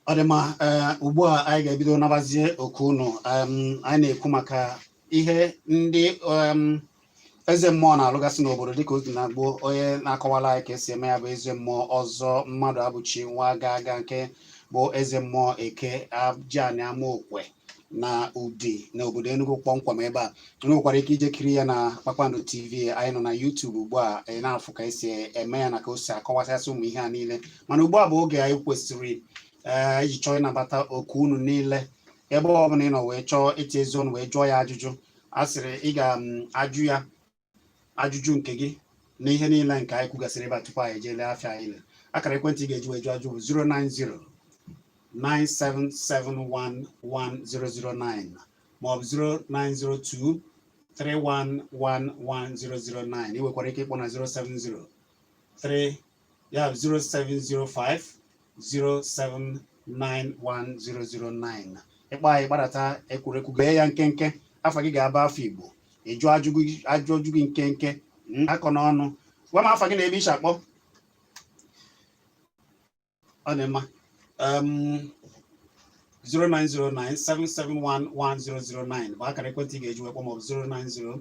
ọ dị mma ee ugbu a anyị ga-ebido nabazie oku unu em, anyị na-ekwu maka ihe ndị em, eze mmụọ na-alụgasị n'obodo dịka ọ dị na gboo onye na-akọwala anyị ka esi eme ya bụ eze mmụọ ọzọ mmadụabụchi nwa aga aga nke bụ eze mmụọ eke ajiani amaokwe na udi na obodo enugu kpọmkwem ebe a unu nwekwara ike ije kiri ya na kpakpando tv anyị nọ na youtube ugbu a ị na-afụ ka esi eme ya na ka o si akọwasịasị ụmụ ihe a niile mana ugbu a bụ oge anyị kwesịrị ee iji chọọ ịnabata oku unu niile ebe ọ bụla ị nọ wee chọọ itiyezi ọnụ wee jụọ ya ajụjụ a sịrị ị ga-ajụ um, ya ajụjụ nke gị na ihe niile nke anyị kwugasịrị ebe a tupu anyị ejeele afịa anyị le akara ekwentị ị ga-eji wee jụọ ajụ bụ 090 97711009 maọbụ 0902 3111009 ị nwekwara ike ịkpọ na 070 3 ya 0705 0791009 ị kpọọ anyị gbadata ekwurekwu gee ya nkenke afa gị ga-abụ afa igbo ị jụọ ajụjụ gị nkenke hmm, akọ n'ọnụ gwa m afa gị na ebe i shi akpọ ọ dị mma 0909 771 1009 bụ akara ekwentị ị ga-eji wee kpọọ maọbụ 090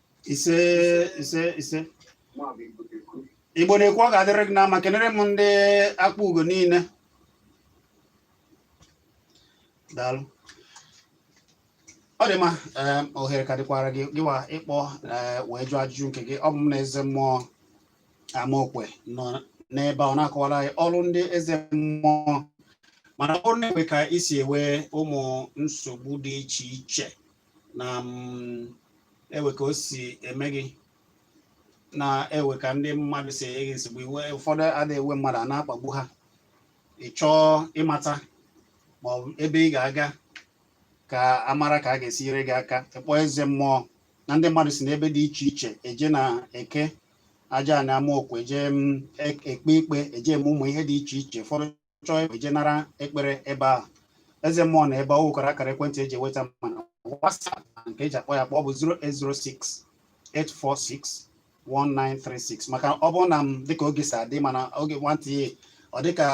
ise ise ise igbo na-ekwu ọ ga-adịrị gị na mma kenere m ndị akpugo niile daalụ ọ dị mma em, ohere ka dịkwara gị gịwa ịkpọ eh, wee jụọ ajụjụ nke gị ọ bụ m na eze mmụọ amaokwe nọ n'ebe a ọ na-akọwara anyị ọrụ ndị eze mmụọ mana ọ bụrụ na e nwee ka i si ewe ụmụ nsogbu dị iche iche na mm, ewe ka o si eme gị na ewe ka ndị mmadụ si enye gị nsogbu iwe ụfọdụ adịghị ewe mmadụ a na-akpagbu ha ị chọọ ịmata ma ọ bụ ebe ị ga-aga ka a mara ka a ga-esi nyere gị aka ị kpọọ eze mmụọ na ndị mmadụ si n'ebe dị iche iche eje na eke ajiani amaokwe eje mm, ek- ekpe ikpe eje eme ụmụ ihe dị iche iche ụfọdụ chọọ eje nara ekpere ebe ahụ eze mmụọ na ebe o nwekwara akara ekwentị eji eweta ma na WhatsApp nke eji akpọ ya akpọ bụ 0806 846 1936 maka ọ bụrụ na m dịka oge si adị mana oge nwantị ya ọ dịka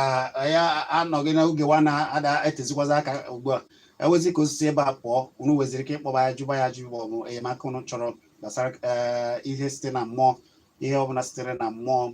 ya anọghị n'oge wa na-ada etezikwazi aka ugbu a ewezi ka o si si ebe a pụọ unu weziri ike ịkpọba ya jụba ya ajụ maọbụ enyemaka unu chọrọ gbasara eh, ihe site na mmụọ ihe ọbụla sitere na mmụọ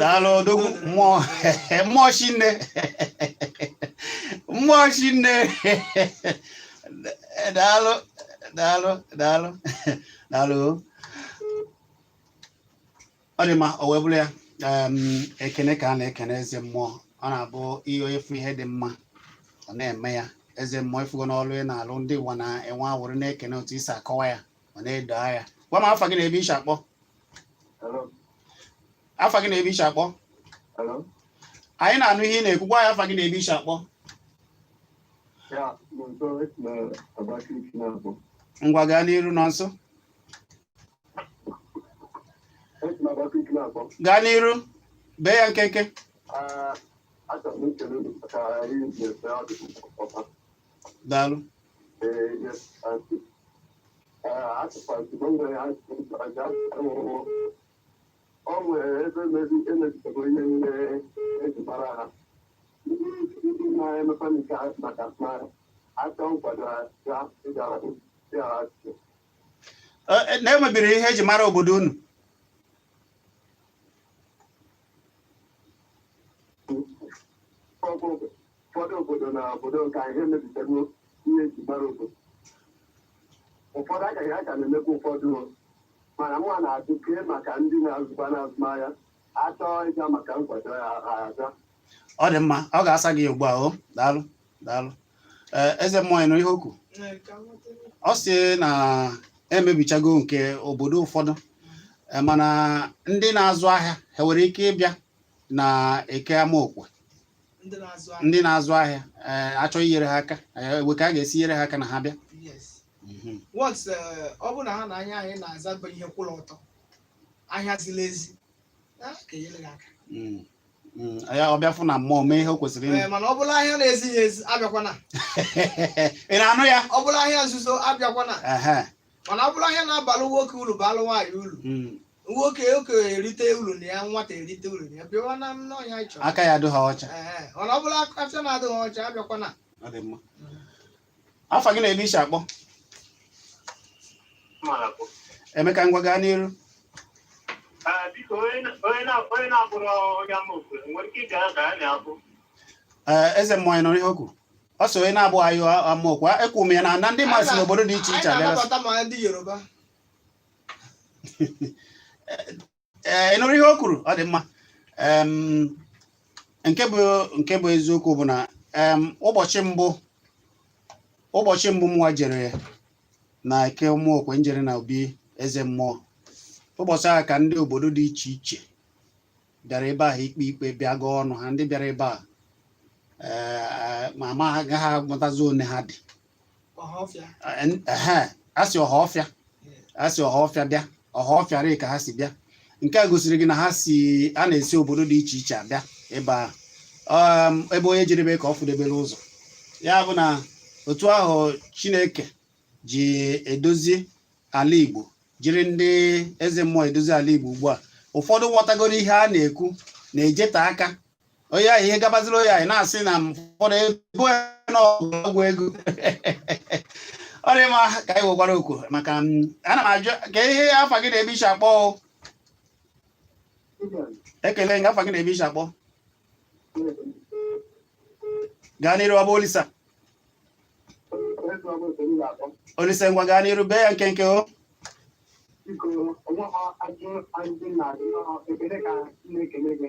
daalụ odogwu mmụọ mmụọ chinne mmụọ chinne daalụ daalụ daalụ daalụ ọ dị mma o wee bụrụ ya ekene ka a na-ekene eze mmụọ ọ na-abụ ihe onye fụ ihe dị mma ọ na-eme ya eze mmụọ ị fụgo na ọlụ ị na-alụ ndị ụwa na-enwe aṅụrị na-ekene otu i si akọwa ya ọ na-edo anya gwa m afa gị na ebe i si akpọ Hello? afa gị na ebe i si akpọ Hello? anyị na-anụ ihe ị na-ekwu gwa ya afa gị na ebe i si akpọ Ya, Nonso, esi na Abakaliki na-akpọ. ngwa gaa n'iru Nonso Esi na Abakaliki na-akpọ. gaa n'iru bee ya nkenke Ah, achọrọ m ikele unu maka ihe unu na-eme ọ dị m ụtọ. daalụ ọ nwere ebe emezitego ihe niile eji mara ha ndị na-emepe nke maka mmadụ aka nkwado ya ịgara ya achị na emebiri ihe eji mara obodo unu ụfọdụ obodo na obodo nke a emebitego ihe eji mara obodo ụfọdụ a ka a ka na-emekwa ụfọdụ mana mụ na-ajụ kee maka ndị na-azụba n'azụmahịa achọọ ịga maka nkwado ya aga ọ dị mma ọ ga-asa gị ugbu a o daalụ daalụ ee eze mmụọ ị nụ ihe o kwu ọ sị na emebichago nke obodo ụfọdụ eh, mana ndị na-azụ ahịa ha nwere ike ịbịa na eke amaokwe ndị na-azụ ahịa ndị na-azụ ahịa eh, achọ inyere ha aka eh, kee ka a ga-esi nyere ha aka na ha bịa yes Mhm. once eh, ọ bụ na ahịa onye ahụ na-azụ bụ ihe kwụrụ ọtọ ahịa ziri ezi ha ga-enyere gị aka Mm. Mm, ya ọ bịa fụ na mmụọ mee ihe o kwesịrị ime Ee, mana ọ bụlụ ahịa na-ezighị ezi abịakwana ị na-anụ ya ọ bụlụ ahịa nzuzo abịakwana Ehe, mana ọ bụlụ ahịa na-abalụ nwoke uru balụ nwaanyị uru mm, nwoke okenye erite uru na ya nwata erite uru na ya bịawa na onye anyị chọrọ aka ya adịghị ọcha Ee, mana ọ bụlụ afịa na-adịghị ọcha abịakwana ọ dị mma afa gị na ebe i si akpọ emeka ngwa gaa n'iru ee eze mmụọ ị nụrụ ihe o kwu ọ sị onye na-abụghị onye amaokwe ekwu m ya na na ndị mmadụ si n'obodo dị iche iche abịa Anyị na-anabata ma ndị Yoruba. ee eh, ịnụrụ ihe o kwuru ọ dị mma nke bụ nke bụ eziokwu bụ na ụbọchị mbụ ụbọchị mbụ mụwa jere na eke ụmụokwe njere na obi eze mmụọ ụbọchị ahụ ka ndị obodo dị iche iche bịara ebe ahụ ikpe ikpe bịa gụọ ọnụ ha ndị bịara ebe a eh, ma m agaghị amatazi one ha dị asị ọhaọfịa asị ọhaọfịa bịa ọhaọfịa rịị ka ha si bịa nke a gosiri gị na ha si a na-esi obodo dị iche iche abịa ebe ahụ um, ebe onye jedebe ka ọ fụdebere ụzọ ya bụ na otu ahụ Chineke ji edozi ala Igbo jiri ndị eze mmụọ edozi ala Igbo ugbu a ụfọdụ ghọtagoro ihe a na-ekwu na-ejeta aka onye ahụ ihe gabaziri onye ahụ na-asị na ụfọdụ ego na ọgwụ ego ọ dị mma ka anyị wekwara okwu maka ana m ajụ ka ihe afa gị na ebe i si akpọ ekele ngwa afa gị na ebe i si akpọ gaa n'iru ọ bụ Olisa olisa ngwa gaa n'iru bee ya nkenke o biko onwe ha ajụ ndị na-adị ekele ka na-ekele gị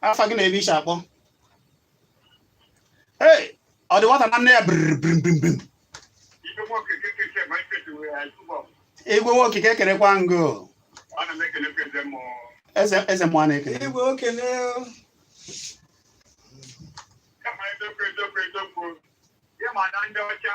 afa gị na ebe i si akpọ ee ọ dị nwata na nne ya brimbrimbrim igwe nwoke ka ekerekwa ngo eze mmụọ na-ekele igwe okele ịma na ndị ọcha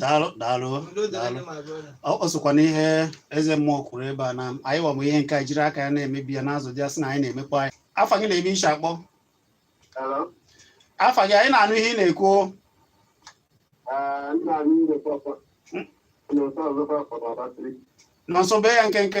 daalụ daalụ daalụ ọ sokwa n'ihe eze mmụọ kwuru ebe a na anyịwa bụ ihe nke a jiri aka ya na-emebi ya n'azụ dị asị na anyị na-emekwa anyị afa gị na ebe i si akpọ afa gị anyị na-anụ ihe ị na-ekwu nọ nso bee ya nkenke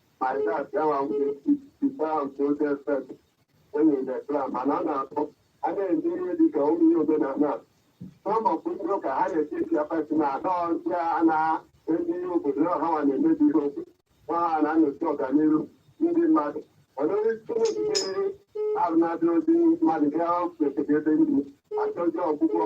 mana a na-akpọ a na-eme ihe dị ka ụmụ ihe omenala n'ọgbakọ ndị ụka ha na-eti eti apati na ada ọzọ a na-eme ihe obodo na ọhawa na-emebi ihe obodo ma ha na-anọchi ọganihu ndị mmadụ mana onye chineke ahụ na-adị ozi mmadụ ga-ekpekebe ndị achọzi ọgwụgwọ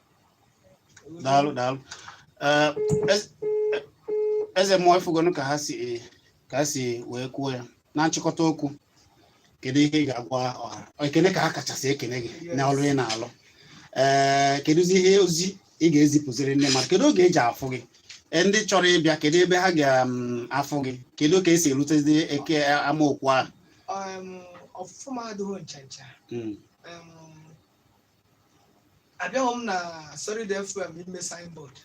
daalụ daalụ eh, eh, eze mmụọ ị fugonu ka ha si ka ha si wee kwuo ya na nchịkọta okwu kedu ihe ị ga-agwa ọha ekene ka ha kachasị ekene gị na ọrụ ị na-alụ ee eh, kedụzi ihe ozi ị ga-ezipụziri ndị mmadụ kedu oge e ji afụ gị eh, ndị chọrọ ịbịa kedu ebe ha ga-afụ mm, gị kedu ka e si erutezi eke eh, amaokwu ahụ ọfụfụ m adịghị ncha ncha hmm. abịaghị m na solid fm ime signboard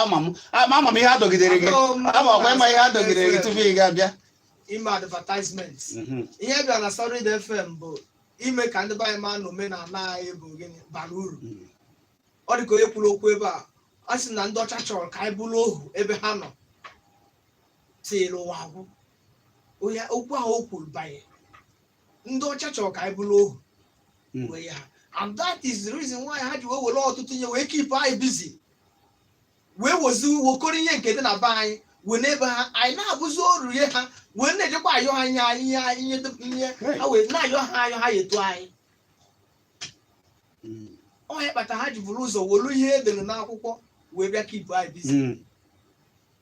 ama m ama ama m ihe a dọgidere gị Abịaghị m ama ọkwa ịma ihe a dọgidere gị tupu ị ga-abịa ime advertisement Mhm. ihe bịara na solid fm bụ ime ka ndị be anyị ma na omenala anyị bụ gịnị bara uru Mhm. ọ dị ka onye kwuru okwu ebe a a sị na ndị ọcha chọrọ ka anyị bụrụ ohu ebe ha nọ till ụwa agwụ onye okwu ahụ o kwuru banye ndị ọcha chọrọ ka anyị bụrụ ohu hmm. wee ha and that is the reason why ha ji wee were ọtụtụ ihe wee keep anyị busy wee wezi wokọrọ ihe nke dị na be anyị wee naa be ha anyị na-abụzi oru ihe ha wee na-ejekwa ayọ ha ihe ihe ihe ihe ha wee na-ayọ ha ayọ ha enyetu anyị hmm. ọ ya kpata ha ji buru ụzọ welu ihe edere n'akwụkwọ wee bịa keep anyị busy hmm.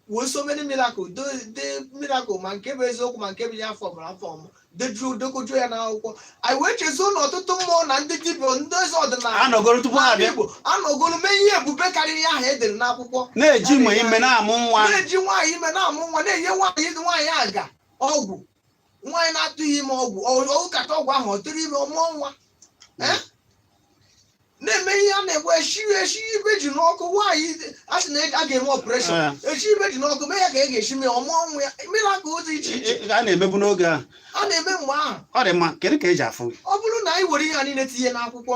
wee so many miracle do the miracle ma nke bụ eziokwu ma nke bụ ihe a formụrụ a form dejuo dekojuo ya n'akwụkwọ anyị wee chezọọ na ọtụtụ mmụọ na ndị dibịa ndị eze ọdịnala anọgoro tupu ha n'ala abịa Igbo anọgoro mee ihe ebube karịrị ihe ahụ e dere n'akwụkwọ na-eji mgbe ime na-amụ nwa na-eji nwaanyị ime na-amụ nwa na-enye nwaanyị nwaanyị aga ọgwụ nwaanyị na-atụghị ime ọgwụ ọ ṅụkata ọgwụ ahụ ọ tụrụ ime ọ mụọ nwa Eh? na-eme ihe a na gboo e eshi ibe ji n'ọkụ nwaanyị a sị na a ga-eme ọpụreshọn Ah. eshi ibe ji n'ọkụ mee ya ka e ga-eshi mee ọ mụọ nwa ya mmiri aka ụzọ iche iche Ị- ị- a na-emebu n'oge ahụ a na-eme mgbe ahụ ọ dị mma kedu ka eji afụ gị ọ bụrụ na anyị were ihe a niile tinye n'akwụkwọ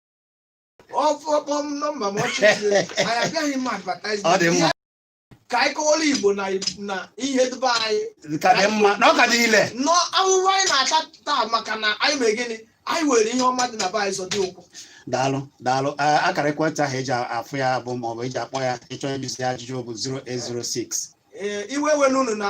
ọfọkpọ m nọmba m ọchị siri anyị abịaghị m advertise Ọ dị mma. ka anyị kọwara igbo na na ihe dị be anyị ka dị mma na ọ ka dị ile na ahụhụ anyị na-ata taa maka na anyị mere gịnị anyị were ihe ọma dị na be anyị zọdo ụkwụ daalụ daalụ A- akara ekwentị ahụ eji afụ ya bụ ma ọ bụ eji akpọ ya ị chọọ ịjụzi ya ajụjụ bụ 0806 ee iwe were unu na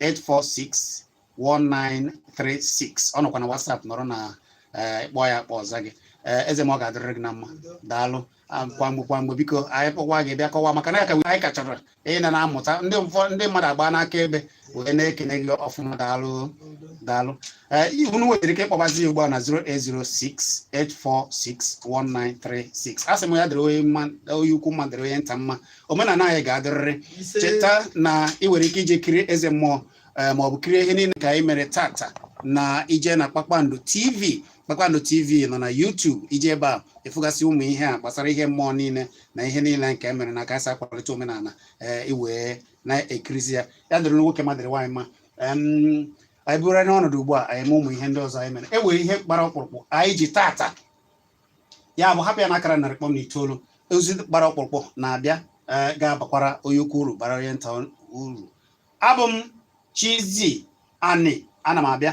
846 1936 ọ nọkwa na WhatsApp nọrọ na eh, kpọọ ya akpọ ọ zaa gị Eh, eze ma ọ ga-adịrịrị gị na mma daalụ Ah, kwa mgbe kwa mgbe biko anyị kpọkwa gị bịa kọwa maka na ya ka anyị ka chọrọ ị na na-amụta ndị ụfọ- ndị mmadụ agbana akaebe wee na-ekene gị ọfụma daalụ daalụ Eh, ihe unu nwetara ike ịkpọbazi ya ugbu a na 08068461936 a sị m ya dịrị onye mma onye ukwu mma dịrị onye nta mma omenala anyị ga-adịrịrị cheta na ị nwere ike ije kirie eze mmụọ eh, ma ọ bụ kirie ihe niile ka anyị mere taata na i je na kpakpando tv kpakpando tv nọ na YouTube i je ebe a ị fụgasịa ụmụ ihe a gbasara ihe mmụọ niile na ihe niile nke e mere na ka esi akwalite omenala eh, i wee na-ekirizi ya ya dịrị nwoke mma dịrị nwaanyị mma anyị bụrụ n'ọnọdụ ugbu a anyị ma ụmụ ihe ndị ọzọ anyị mere e nwere ihe gbara ọkpụrụkpụ anyị ji taata ya bụ hapụ ya na akara narị kpọm na itoolu ozi gbara ọkpụrụkpụ na-abịa eh, ga-abakwara onye ukwu uru bara onye nta uru abụ m Chizzy Ani ana m abịa